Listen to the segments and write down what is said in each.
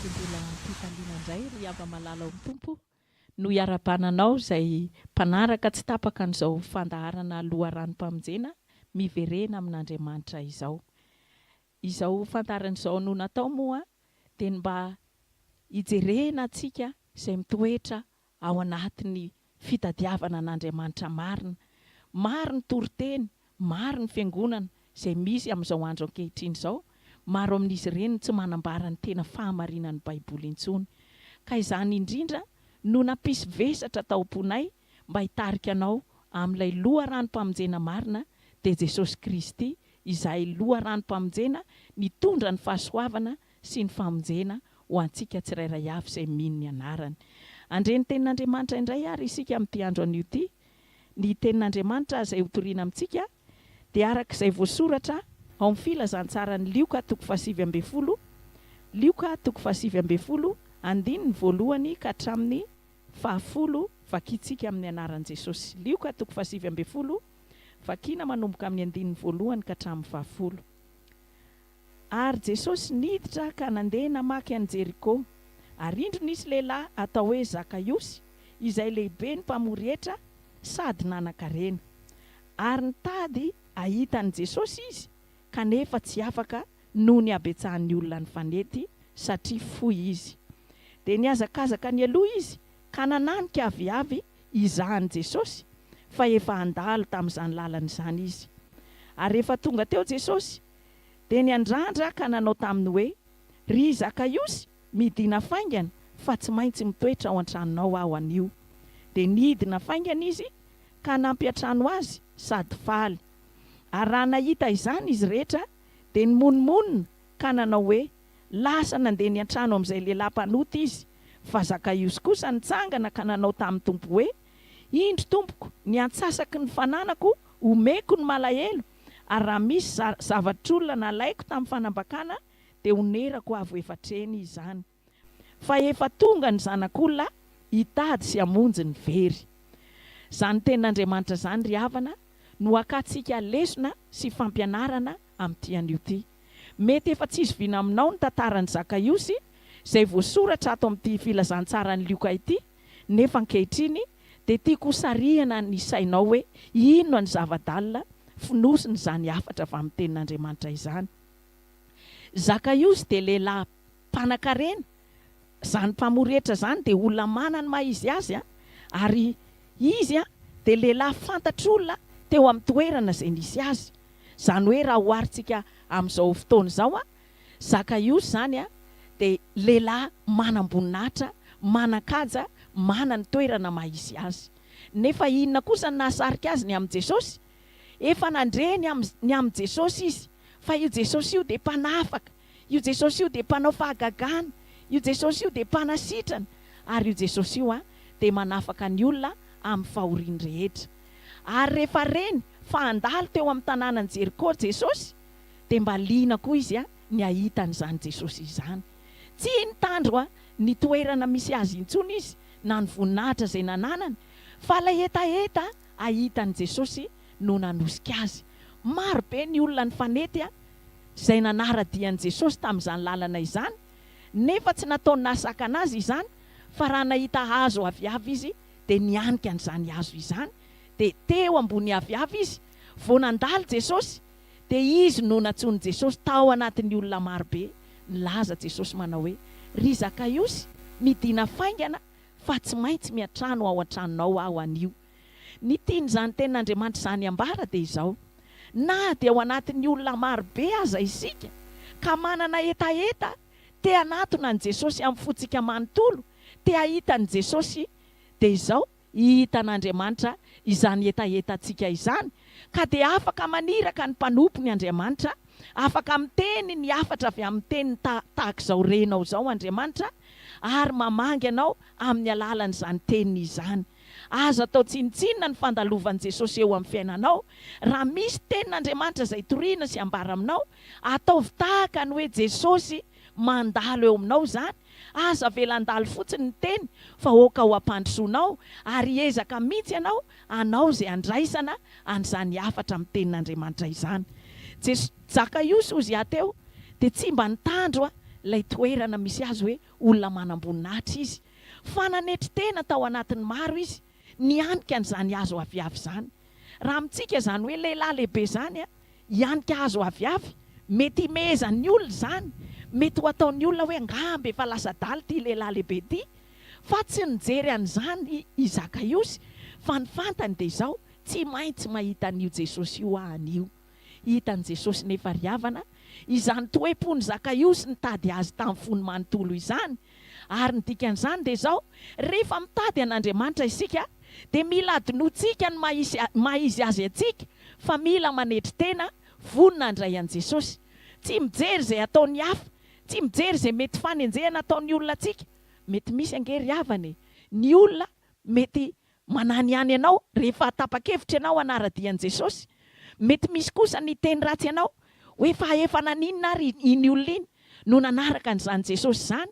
Dia mbola am-pifaliana indray ry hava-malala ao amin'ny Tompo no iarahabana anao izay mpanaraka tsy tapaka an'izao fandaharana loharanom-pamonjena miverena amin'Andriamanitra izao. Izao fandaharana izao no natao moa dia ny mba hijerena antsika izay mitoetra ao anatin'ny fitadiavana an'Andriamanitra marina. Maro ny toriteny, maro ny fiangonana izay misy amin'izao andro ankehitriny izao, maro amin'izy ireny no tsy manambara ny tena fahamarinan'ny Baiboly intsony. Ka izany indrindra no nampisy vesatra tao am-ponay mba hitarika anao amin'ilay loharanom-pamonjena marina, dia Jesosy Kristy, izay loharanom-pamonjena nitondra ny fahasoavana sy ny famonjena ho antsika tsirairay avy izay mino ny anarany. Handre ny Tenin'Andriamanitra indray àry isika amin'ity andro anio ity. Ny Tenin'Andriamanitra izay hotorina amintsika dia araka izay voasoratra ao amin'ny Filazantsaran'i Lioka toko fahasivy ambin'ny folo, Lioka toko fahasivy ambin'ny folo, andininy voalohany ka hatramin'ny fahafolo, vakintsika amin'ny anaran'i Jesosy. Lioka toko fahasivy ambin'ny folo, vakiana manomboka amin'ny andininy voalohany ka hatramin'ny fahafolo. Ary Jesosy niditra ka nandeha namaky an'i Jeriko. Ary indro nisy lehilahy atao hoe Zakaiosy, izay lehiben'ny mpamory hetra sady nanan-karena. Ary nitady hahita an'i Jesosy izy, kanefa tsy afaka noho ny habetsahan'ny olona nifanety, satria fohy izy. Dia nihazakazaka nialoha izy ka nananika aviavy hizaha an'i Jesosy, fa efa handalo tamin'izany lalana izany izy. Ary rehefa tonga teo Jesosy, dia niandrandra ka nanao taminy hoe, Ry Zakaiosy, midìna faingana, fa tsy maintsy mitoetra ao an-tranonao aho anio. Dia nidina faingana izy ka nampiantrano azy sady faly. Ary raha nahita izany izy rehetra, dia nimonomonona ka nanao hoe, Lasa nandeha niantrano amin'izay lehilahy mpanota izy. Fa Zakaiosy kosa nitsangana ka nanao tamin'ny Tompo hoe, Indro, Tompoko, ny antsasaky ny fananako omeko ny malahelo, ary raha misy za zavatr'olona nalaiko tamin'ny fanambakana dia honerako avo efa hatreny izany fa efa tonga ny zanak'olona hitady sy hamonjy ny very. Izany tenin'Andriamanitra izany ry havana no hakantsika lesona sy fampianarana amin'ity anio ity. Mety efa tsy zoviana aminao ny tantaran'i Zakaiosy izay voasoratra ato amin'ity filazantsaran'i Lioka ity, Nefa ankehitriny dia tiako ho sarihana ny sainao hoe inona ny zava-dalina fonosin'izany hafatra avy amin'ny Tenin'Andriamanitra izany. Zakaiosy dia lehilahy mpanankarena, izany mpamory hetra izany dia olona manana ny maha izy azy, ary izy dia lehilahy fantatr'olona teo amin'ny toerana izay nisy azy. Izany hoe raha oharintsika amin'izao fotoana izao, Zakaiosy izany dia lehilahy manam-boninahitra, manan-kaja, manana ny toerana maha-izy azy. Nefa inona kosa no nahasarika azy ny amin'i Jesosy? Efa nandre ny amin'ny ny amin'i Jesosy izy, fa io Jesosy io dia mpanafaka, io Jesosy io dia mpanao fahagagana, io Jesosy io dia mpanasitrana, ary io Jesosy io dia manafaka ny olona amin'ny fahoriany rehetra. Ary rehefa reny fa handalo teo amin'ny tanànan'i Jeriko Jesosy, Dia mba liana koa izy ny hahita an'izany Jesosy izany. Tsy nitandro ny toerana misy Azy intsony izy na ny voninahitra izay nananany, fa ilay hetaheta hahita an'i Jesosy no nanosika azy. Maro be ny olona nifanety izay nanara-dia an'i Jesosy tamin'izany lalana izany, nefa tsy nataony nahasakana azy izany, fa raha nahita hazo aviavy izy dia nianika an'izany hazo izany, dia teo ambony aviavy izy vao nandalo Jesosy. Dia izy no nantsoin'i Jesosy tao anatin'ny olona maro be. Nilaza Jesosy manao hoe, Ry Zakaiosy, midìna faingana, fa tsy maintsy miantrano ao an-tranonao aho anio. Ny tian'izany Tenin'Andriamanitra izany ambara dia izao, Na dia ao anatin'ny olona maro be aza isika, ka manana hetaheta te-hanatona an'i Jesosy amin'ny fontsika manontolo, te-hahita an'i Jesosy, dia izao, Hitan'Andriamanitra izany hetahetantsika izany, ka dia afaka maniraka ny mpanompony Andriamanitra, afaka miteny ny hafatra avy amin'ny teniny tahaka izao renao izao Andriamanitra, ary mamangy anao amin'ny alalan'izany teniny izany. Aza atao tsinontsinona ny fandalovan'i Jesosy eo amin'ny fiainanao. Raha misy tenin'Andriamanitra izay toriana sy ambara aminao, ataovy tahaka ny hoe Jesosy, mandalo eo aminao izany, aza avela handalo fotsiny ny teny fa aoka ho ampandrosoanao ary hiezaka mihitsy ianao hanao izay handraisana an'izany hafatra amin'ny tenin'Andriamanitra izany. Jesosy Zakaiosy hozy ahy teo dia tsy mba nitandro a ilay toerana misy azy hoe olona manam-boninahitra izy fa nanetry tena tao anatin'ny maro izy nianika an'izany hazo aviavy izany. Raha amintsika izany hoe lehilahy lehibe izany hianika hazo aviavy, mety himehezan'ny olona izany, mety ho ataon'ny olona hoe angamba efa lasa adala ity lehilahy lehibe ity, fa tsy nijery an'izany i Zakaiosy, fa ny fantany dia izao, tsy maintsy mahita an'io Jesosy io aho anio. Hitan'i Jesosy nefa ry havana, izany toe-pon'i Zakaiosy nitady Azy tamin'ny fony manontolo izany. Ary ny dikan'izany dia izao, rehefa mitady an'Andriamanitra isika, dia mila adinointsika ny maha-izy Azy antsika, fa mila manetry tena, vonona handray an'i Jesosy. Tsy mijery izay ataon'ny hafa, tsy mijery izay mety fanenjehana ataon'ny olona antsika. Mety misy ange ry havana e, ny olona mety Manahy ihany ianao rehefa tapa-kevitra ianao hanara-dia an'i Jesosy. Mety misy kosa ny hiteny ratsy ianao hoe fa efa naninona ary iny olona iny no nanaraka an'izany Jesosy izany?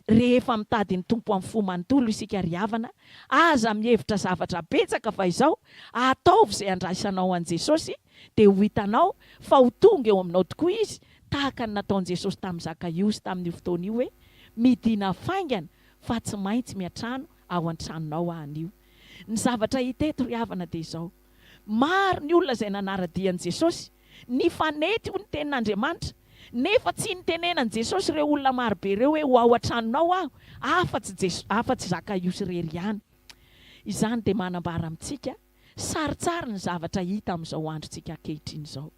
Rehefa mitady ny Tompo amin'ny fo manontolo isika ry havana, aza mihevitra zavatra betsaka fa izao, ataovy izay handraisanao an'i Jesosy dia ho hitanao fa ho tonga eo aminao tokoa Izy tahaka ny nataon'i Jesosy tamin'i Zakaiosy tamin'io fotoana io hoe, Midina faingana fa tsy maintsy miantrano ao an-tranonao aho anio. Ny zavatra hita eto ry havana dia izao, maro ny olona izay nanara-dia an'i Jesosy, nifanety ho ny tenin'Andriamanitra, nefa tsy nitenenan'i Jesosy ireo olona maro be ireo hoe ho ao an-tranonao aho afa-tsy afa-tsy Zakaiosy irery ihany. Izany dia manambara amintsika Sarotsary ny zavatra hita amin'izao androntsika ankehitriny izao.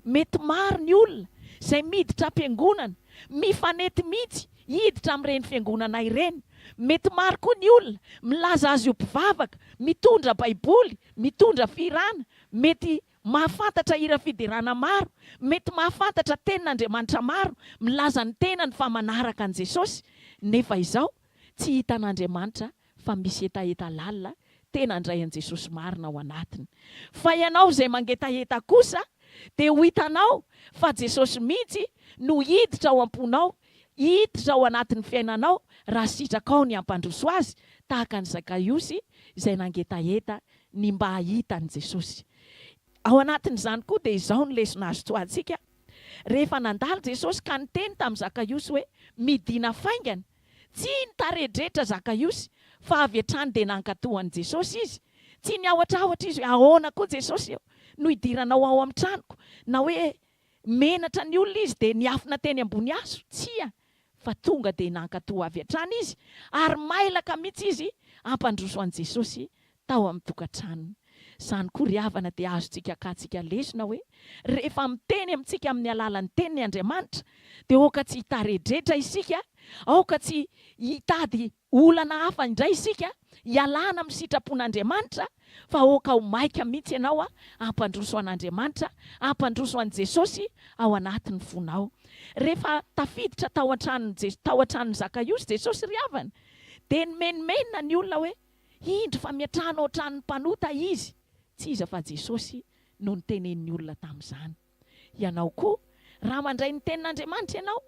Mety maro ny olona izay miditra am-piangonana, mifanety mihitsy hiditra amin'ireny fiangonana ireny. Mety maro koa ny olona milaza azy ho mpivavaka, mitondra Baiboly, mitondra fihirana, mety mahafantatra hira fiderana maro, mety mahafantatra tenin'Andriamanitra maro, milaza ny tenany fa manaraka an'i Jesosy, nefa izao tsy hitan'Andriamanitra fa misy hetaheta lalina tena handray an'i Jesosy marina ao anatiny. Fa ianao izay mangetaheta kosa dia ho hitanao fa Jesosy mihitsy no hiditra ao am-ponao, hiditra ao anatin'ny fiainanao raha sitrakao ny hampandroso Azy tahaka an'i Zakaiosy izay nangetaheta ny mba hahita an'i Jesosy. Ao anatin'izany koa dia izao ny lesona azo tsoahintsika, Rehefa nandalo Jesosy ka niteny tamin'i Zakaiosy hoe, Midina faingana, Tsy ny tarehin-drehetra Zakaiosy, fa avy hatrany dia nankatò an'i Jesosy izy. Tsy niahotrahotra izy hoe, Ahoana koa Jesosy ô, no hidiranao ao amin'ny tranoko? na hoe menatra ny olona izy dia niafina teny ambony hazo. Tsia, fa tonga dia nankatò avy hatrany izy, ary mailaka mihitsy izy hampandroso an'i Jesosy tao amin'ny tokantranony. Izany koa ry havana dia azontsika akatsika lesona hoe rehefa miteny amintsika amin'ny alalan'ny teniny Andriamanitra dia aoka tsy hitaredretra isika, aoka tsy hitady olana hafa indray isika hialana amin'ny sitrapon'Andriamanitra fa aoka ho maika mihitsy ianao hampandroso an'Andriamanitra, hampandroso an'i Jesosy ao anatin'ny fonao. Rehefa tafiditra tao an-tranon'i tao an-tranon'i Zakaiosy Jesosy ry havana dia nimenomenona ny olona hoe. Indro fa miatrano ao an-tranon'ny mpanota izy. Tsy iza fa Jesosy no nitenenin'ny olona tamin'izany. Ianao koa, raha mandray ny Tenin'Andriamanitra ianao,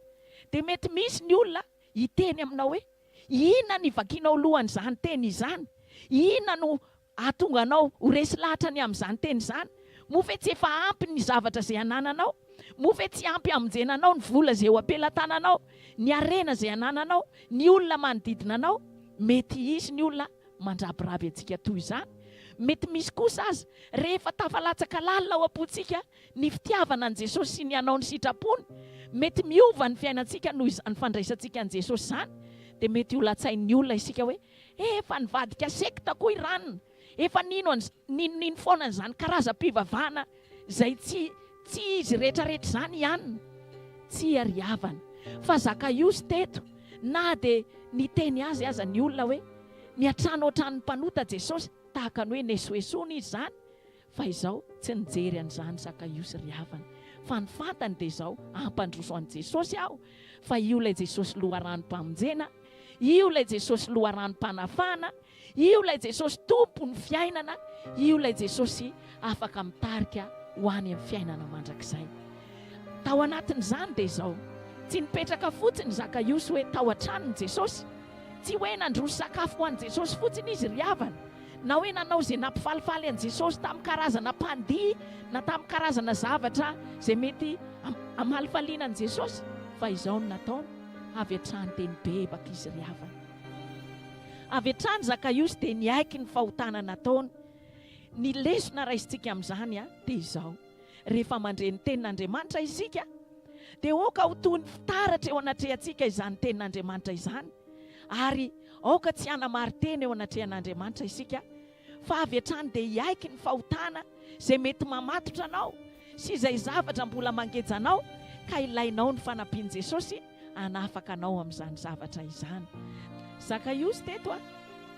dia mety misy ny olona hiteny aminao hoe, Inona no ivakianao loha an'izany teny izany? Inona no hahatonga anao ho resy lahatra ny amin'izany teny izany? Moa ve tsy efa ampy ny zavatra izay anananao? Moa ve tsy ampy hamonjena anao ny vola izay eo am-pelatananao, ny harena izay anananao, Ny olona manodidina anao, mety hisy ny olona mandrabiraby antsika toy izany, mety misy kosa aza, rehefa tafalatsaka lalina ao am-pontsika ny fitiavana an'i Jesosy sy ny hanao ny sitrapony, mety miova ny fiainantsika noho izany fandraisantsika an'i Jesosy izany, dia mety holatsain'ny olona isika hoe, efa nivadika sekta koa i Rana. Efa nino an'z ninonino foana an'izany karazam-pivavahana izay tsy tsy izy rehetrarehetra izany i Anna. Tsia ry havana, fa Zakaiosy teto, na dia niteny azy aza ny olona hoe, Miantrano hatrany ny mpanota Jesosy, tahaka ny hoe nesoesoana izy izany, Fa izao tsy nijery an'izany Zakaiosy ry havana, fa ny fantany dia izao, hampandroso an'i Jesosy aho, fa io ilay Jesosy loharanom-pamonjena, io ilay Jesosy loharanom-panafahana, io ilay Jesosy tompon'ny fiainana, io ilay Jesosy afaka mitarika ho any amin'ny fiainana mandrakizay. Tao anatin'izany dia izao, tsy nipetraka fotsiny i Zakaiosy hoe tao an-tranon'i Jesosy, tsy hoe nandroso sakafo ho an'i Jesosy fotsiny izy ry havana, na hoe nanao izay nampifalifaly an'i Jesosy tamin'ny karazana mpandihy na tamin'ny karazana zavatra izay mety hamalifaliana an'i Jesosy, fa izao no nataony, avy hatrany dia nibebaka izy ry havana. Avy hatrany Zakaiosy dia niaiky ny fahotana nataony. Ny lesona raisintsika amin'izany dia izao. Rehefa mandre ny Tenin'Andriamanitra isika, dia aoka ho toy ny fitaratra eo anatrehantsika izany Tenin'Andriamanitra izany, ary aoka tsy hanamari-tena eo anatrehan'Andriamanitra isika, fa avy hatrany dia hiaiky ny fahotana izay mety mamatotra anao sy izay zavatra mbola mangeja anao ka ilainao ny fanampian'i Jesosy hanafaka anao amin'izany zavatra izany. Zakaiosy teto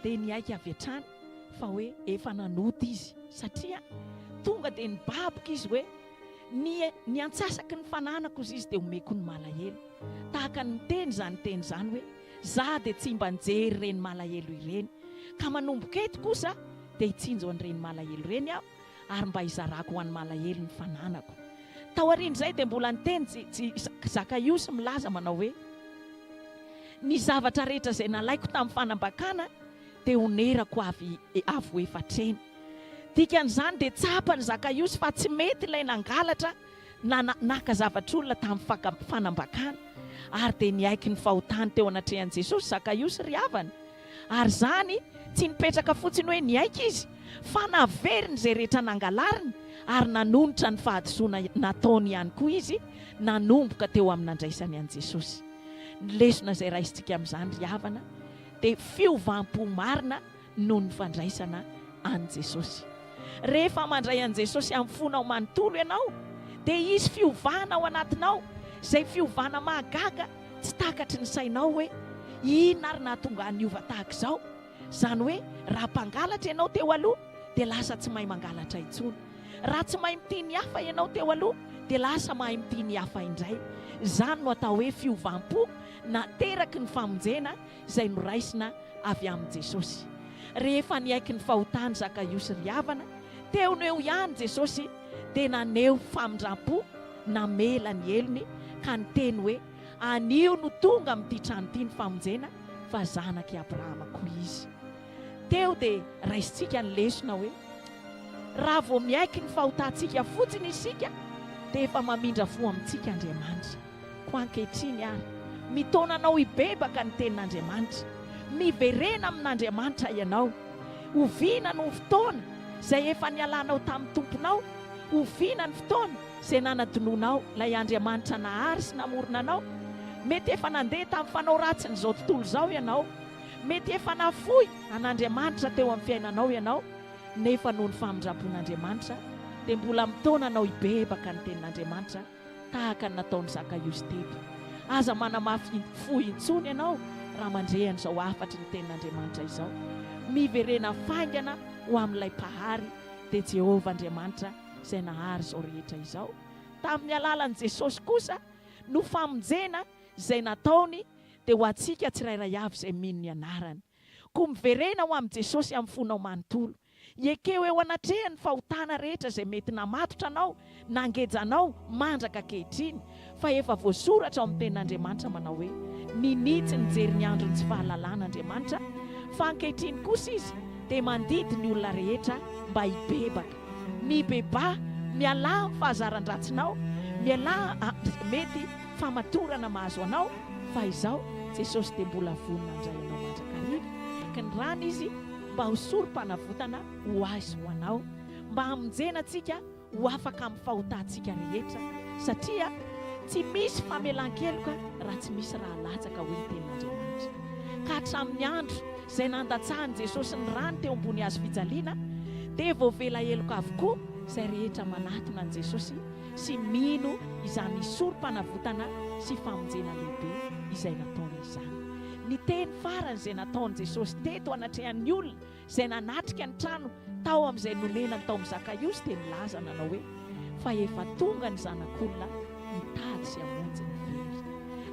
dia niaiky avy hatrany. fa hoe efa nanota izy satria tonga dia nibaboka izy hoe ny ny antsasaky ny fananako izy izy dia omeko ny malahelo tahaka ny miteny izany teny izany hoe za dia tsy mba nijery ireny malahelo ireny ka manomboka eto kosa dia hitsinjo an'ireny malahelo ireny aho ary mba hizarako ho an'ny malahelo ny fananako tao aorian'izay dia mbola niteny tsy tsy zakaiosy milaza manao hoe ny zavatra rehetra izay nalaiko tamin'ny fanambakana teonerako avy avo efatra eny. Dikan'izany dia tsapan'i Zakaiosy fa tsy mety ilay nangalatra na naka zavatr'olona tamin'ny fanambakana. Ary dia niaiky ny fahotany teo anatrehan'i Jesosy Zakaiosy ry havana. Ary izany tsy nipetraka fotsiny hoe niaiky izy, fa naveriny izay rehetra nangalariny ary nanonitra ny fahadisoana nataony ihany koa izy nanomboka teo amin'ny nandraisany an'i Jesosy. Ny lesona izay raisintsika amin'izany ry havana, dia fiovam-po marina noho ny fandraisana an'i Jesosy. Rehefa mandray an'i Jesosy amin'ny fonao manontolo ianao, dia hisy fiovana ao anatinao, izay fiovana mahagaga tsy takatry ny sainao hoe, Inona ary nahatonga ahy niova tahaka izao? Izany hoe, raha mpangalatra ianao teo aloha, dia lasa tsy mahay mangalatra intsony. Raha tsy mahay mitia ny hafa ianao teo aloha, dia lasa mahay mitia ny hafa indray. Izany no atao hoe fiovam-po nateraky ny famonjena izay noraisina avy amin'i Jesosy. Rehefa niaiky ny fahotan'i Zakaiosy ry havana, teo no eo ihany Jesosy dia naneho famindram-po, namela ny helony ka niteny hoe, Anio no tonga amin'ity trano ity ny famonjena, fa zanak'i Abrahama koa izy. Teo dia raisintsika ny lesona hoe, raha vao miaiky ny fahotantsika fotsiny isika dia efa mamindra fo amintsika Andriamanitra. Koa ankehitriny àry, mitaona anao hibebaka ny Tenin'Andriamanitra. Miverena amin'Andriamanitra ianao. Oviana no fotoana izay efa nialanao tamin'ny Tomponao? Oviana ny fotoana izay nanadinoanao ilay Andriamanitra nahary sy namorona anao? Mety efa nandeha tamin'ny fanao ratsin'izao tontolo izao ianao. Mety efa nafoy an'Andriamanitra teo amin'ny fiainanao ianao. Nefa noho ny famindram-pon'Andriamanitra, dia mbola mitaona anao hibebaka ny Tenin'Andriamanitra. tahaka ny nataon'i Zakaiosy teto. Aza manamafy fo intsony ianao raha mandre an'izao hafatry ny Tenin'Andriamanitra izao. Miverena faingana ho amin'ilay Mpahary, dia Jehovah Andriamanitra izay nahary izao rehetra izao. Tamin'ny alalan'i Jesosy kosa no famonjena izay nataony dia ho antsika tsirairay avy izay mino ny anarany. Koa miverena ho amin'i Jesosy amin'ny fonao manontolo. Ekeo eo anatrehany ny fahotana rehetra izay mety namatotra anao, nangeja anao, mandraka ankehitriny. Fa efa voasoratra ao amin'ny Tenin'Andriamanitra manao hoe, Ninia tsy nijery ny andron'ny tsy fahalalana Andriamanitra, fa ankehitriny kosa Izy dia mandidy ny olona rehetra mba hibebaka. Mibebaha, mialà amin'ny fahazaran-dratsinao, mialà amin'izay mety famatorana mahazo anao, fa izao Jesosy dia mbola vonona handray anao mandrakariva. Ka ny rany Izy. mba ho Sorompanavotana ho ahy sy ho anao, mba hamonjena antsika ho afaka amin'ny fahotantsika rehetra, satria tsy misy famelan-keloka raha tsy misy rà latsaka, hoy ny Tenin'Andriamanitra. Ka hatramin'ny andro izay nandatsahan'i Jesosy ny ràny teo ambony hazo fijaliana, dia voavela heloka avokoa izay rehetra manatona an'i Jesosy sy mino izany Sorompanavotana sy famonjena lehibe izay nataony izany. Ny teny farany izay nataon'i Jesosy teto anatrehan'ny olona izay nanatrika ny trano tao amin'izay nonenany tao amin'i Zakaiosy dia nilaza nanao hoe, Fa efa tonga ny Zanak'olona hitady sy hamonjy ny very.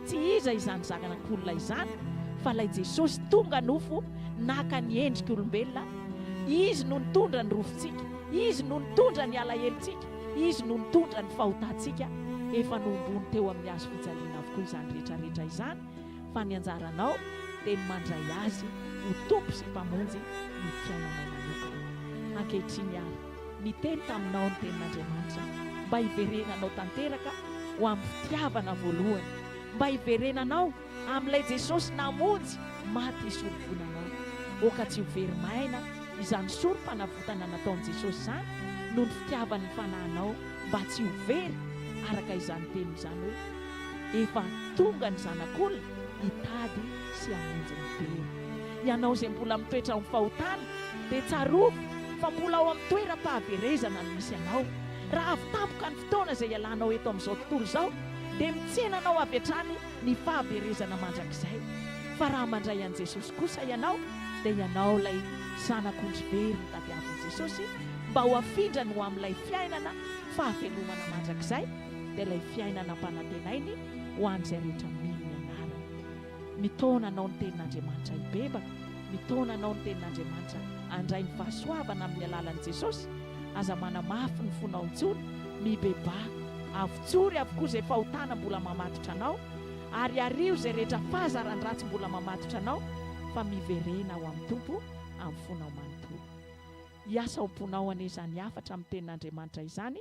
Tsy iza izany Zanak'olona izany fa ilay Jesosy tonga nofo naka ny endrik'olombelona, Izy no nitondra ny rofintsika, Izy no nitondra ny alahelontsika, Izy no nitondra ny fahotantsika. Efa nohomboiny teo amin'ny hazo fijaliana avokoa izany rehetra rehetra izany. fa ny anjaranao dia ny mandray Azy ho Tompo sy Mpamonjy ny fiainanao manokana. Ankehitriny àry, niteny taminao ny Tenin'Andriamanitra mba hiverenanao tanteraka ho amin'ny fitiavana voalohany, mba hiverenanao amin'ilay Jesosy namonjy maty hisorovoana anao. Aoka tsy ho very maina izany Sorompanavotana nataon'i Jesosy izany noho ny fitiavany ny fanahinao mba tsy ho very, araka izany teniny izany hoe. Efa tonga ny Zanak'olona hitady sy hamonjy ny very. Ianao izay mbola mitoetra ao amin'ny fahotana, dia tsarovy fa mbola ao amin'ny toeram-pahaverezana no misy anao. Raha avy tampoka ny fotoana izay ialanao eto amin'izao tontolo izao, dia mitsena anao avy hatrany ny fahaverezana mandrakizay. Fa raha mandray an'i Jesosy kosa ianao, dia ianao ilay Zanak'ondry very notadiavin'i Jesosy mba ho afindrany ho amin'ilay fiainana fahavelomana mandrakizay, dia ilay fiainana ampanantenainy ho an'izay rehetra mino ny anarany. Mitaona anao ny tenin'Andriamanitra hibebaka, mitaona anao ny tenin'Andriamanitra handray ny fahasoavana amin'ny alalan'i Jesosy, aza manamafy ny fonao intsony, mibebaha, avotsory avokoa izay fahotana mbola mamatotra anao, ary ario izay rehetra fahazaran-dratsy mbola mamatotra anao, fa miverena ho amin'ny Tompo amin'ny fonao manontolo. Hiasa ao am-ponao anie izany hafatra amin'ny tenin'Andriamanitra izany,